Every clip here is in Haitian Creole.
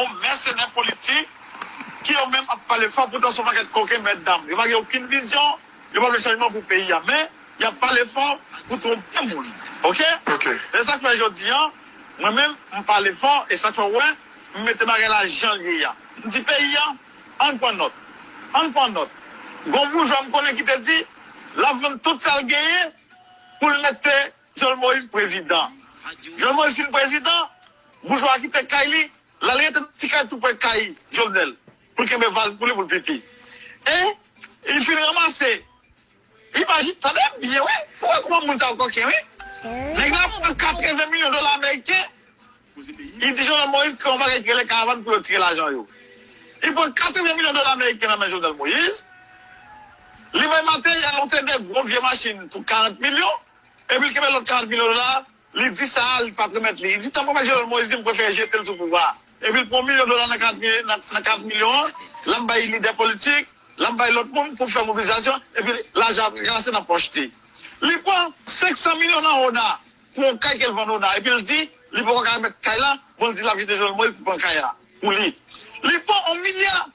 Yon mèsenè politik ki yo menm ap pale fò poutan se yon pakèt koken mètdam. Yo pa gen okenn vizyon, yo pa vle chanjman pou peyi a men y ap pale fò pou twonpe moun. Ok? Se sa k fè jodi a mwen menm m pale fò e sa k fè w wè m mete bagay la jan l ye a. M di peyi a ann pran nòt, ann pran nòt. Gen yon boujwa m konnen ki te di l ap vann tout sa l genyen pou l mete Jovenel Moïse prezidan. Jovenel Moïse fin prezidan, Boujwa a kite kay li, l al rete nan ti kay tou pre kay Jovenel pou l kenbe vaz pou li pou l pipi. E li fin ranmase imaji, tande byen wi, pou w wè kouman moun sa yo koken wi. Nèg la pran 80 milyon dola ameriken, li di Jovenel Moïse kreye yon bagay ki rele karavan pou yo tire lajan yo. Li pran 80 milyon dola ameriken nan men Jovenel Moïse, li bay materyèl yon seri de gwo vye machin pou 40 milyon, epi l kenbe lòt 40 milyon dola. Li di sa a, li pap remèt li. Li di tanpri mèt Jovenel Moïse di m prefere jete l sou pouvwa a. Epi l pran yon milyon dola nan kat milyon an, l al bay lidè politik, l al bay lòt moun pou fè mobilizasyon, epi lajan ap ranse nan pòch li. Li pran 500 milyon nan ona pou yon kay ke l vann ona, epi l di li poko ka remèt kay la, bon l di l ap jete Jovenel Moïse pou pran kay la pou li. Li pran yon milya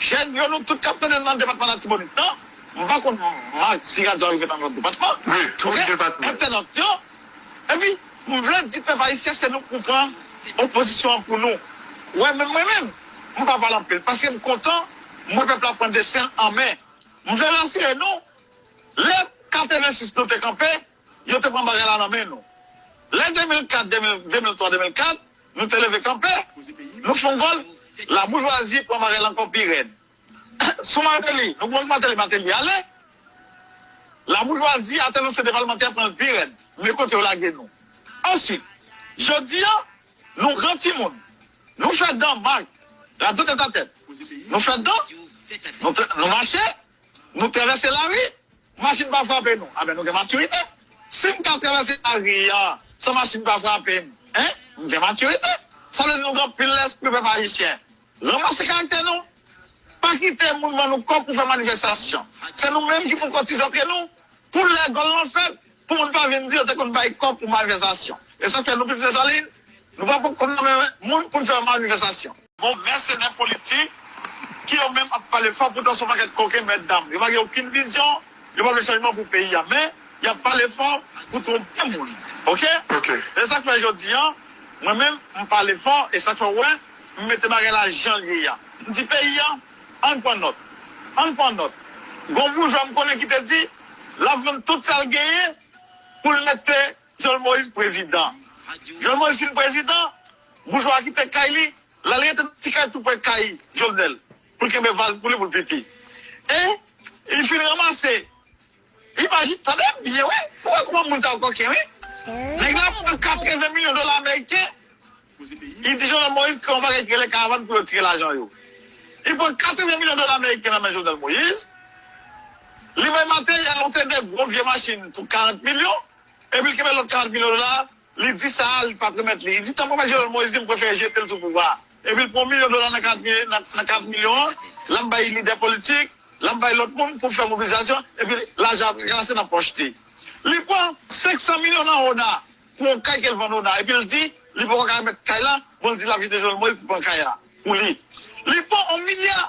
Jèn yo nou tout kap tandem nan depatman latibonit nan m pa konn Marc si radyo a rive nan lòt depatman ok entènot yo epi m vle di pèp ayisyen se nou k pou pran opozisyon an pou nou wè menm mwen menm m pa pale anpil paske m kontan m wè pèp la pran desin an men m vle rasire nou lè 86 nou te kanpe. Yo te pran bagay la nan men nou. Lè 2004, 2003, 2004, nou te leve kanpe. Nou fon gòl. Laboujwazi pran bagay la ankò pi rèd. Sou Martelly, nou konn Martelly, Martelly ale. Laboujwazi atè nou se te palmantè pran l pi rèd. Men kote yo lage nou. Answit, jodi a, nou gran timoun. Nou fè dan, Marc. Radyo tètatèt. Nou fè dan. Nou mache. Nou travèse lari, machin pa frape nou. Aben nou gen matirite. Si m ka travèse lari an san machin pa frape m, en, m gen matirite. Sa vle di nou gen anpil lèspri pèp ayisyen. Ranmase karaktè nou. Pa kite moun ban nou kòb pou fè manifestasyon. Se nou menm ki pou kotize antre nou pou lè gòl lan fèt, pou moun pa vin di yo te konn bay kòb pou manifestasyon. E sa k fè nou plis Desalin? Nou pa konn nan men moun pou n fè manifestasyon. Bon mèsenè politik ki yo menm ap pale fò poutan son pakèt koken mètdam yo pa gen okin vizyon yo pa vle chanjman pou peyi a men yap pale fò pou twonpe moun ok esak fè jodi an mwen menm mpale fò esak fè ou wè mmete bagay la janl ye a mdi peyi a ann pran nòt ann pran nòt gon boujwa mkonnen kite di lap vann tout sal genyen poul mete Jòl Moyiz prezidan. Jòl Moyiz fin prezidan, boujwa a kite kay li, l al rete nan ti kay tou pre kay Jovenel pou l kenbe vaz pou li pou l pipi. E li fin ranmase, imajine, tande byen wi, pou w wè kouman moun sa yo koken wi. Nèg la pran 80 milyon dola ameriken, li di Jòl Moyiz kreye yon bagay ki rele karavann pou yo tire lajan yo. Li pran 80 milyon dola ameriken nan men Jòvenel Moyiz, li bay materyèl, yon seri de gwo vye machin pou 40 milyon. Epi l kenbe lòt 40 milyon dola a, li di sa a li pap remèt li. Li di tankou mèt Jovenel Moïse di m prefere jete l sou pouvwa a. Epi l pran milyon dola nan 40 milyon an, l al bay lidè politik, l al bay lòt moun pou fè mobilizasyon, epi lajan ap ranse nan pòch li. Li pran 500 milyon nan ona pou yon kay ke l vann ona epi l di li poko ka remèt kay la, bon l di l ap jete Jovenel Moïse pou pran kay la pou li. Li pran yon milya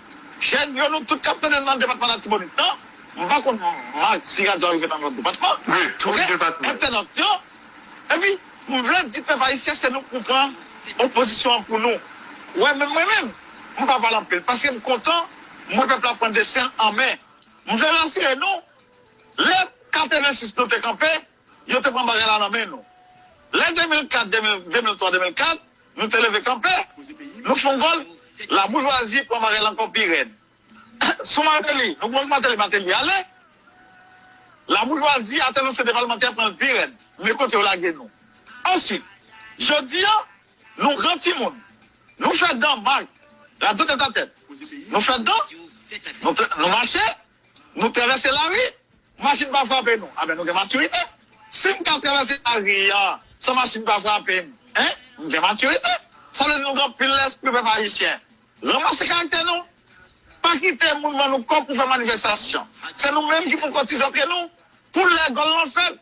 Jèn yo nou tout kap tandem nan depatman latibonit nan m pa konn Marc si radyo a rive nan lòt depatman ok entènot yo epi m vle di pèp ayisyen se nou pou pran opozisyon an pou nou wè menm mwen menm m pa pale anpil paske m kontan m wè pèp la pran desin l an men m vle rasire nou lè 86 nou te kanpe Yo te pran bagay la nan men nou. Lè 2004, 2003, 2004, nou te leve kanpe. Nou fon gòl. Laboujwazi pran bagay la ankò pi rèd. Sou Martelly, nou konn Martelly, Martelly ale. Laboujwazi atè nan sete palemantè pran l pi rèd. Men kote yo lage nou. Answit, jodi a, nou gran timoun. Nou fè dan, Marc. Radyo tètatèt. Nou fè dan. Nou mache. Nou travèse lari, machin pa frape nou. Aben nou gen matirite. Si m ka travèse lari an san machin pa frape m, en, m gen matirite. Sa vle di nou gen anpil lèspri pèp ayisyen. Ranmase karaktè nou. Pa kite moun ban nou kòb pou fè manifestasyon. Se nou menm ki pou kotize antre nou pou lè gòl lan fèt.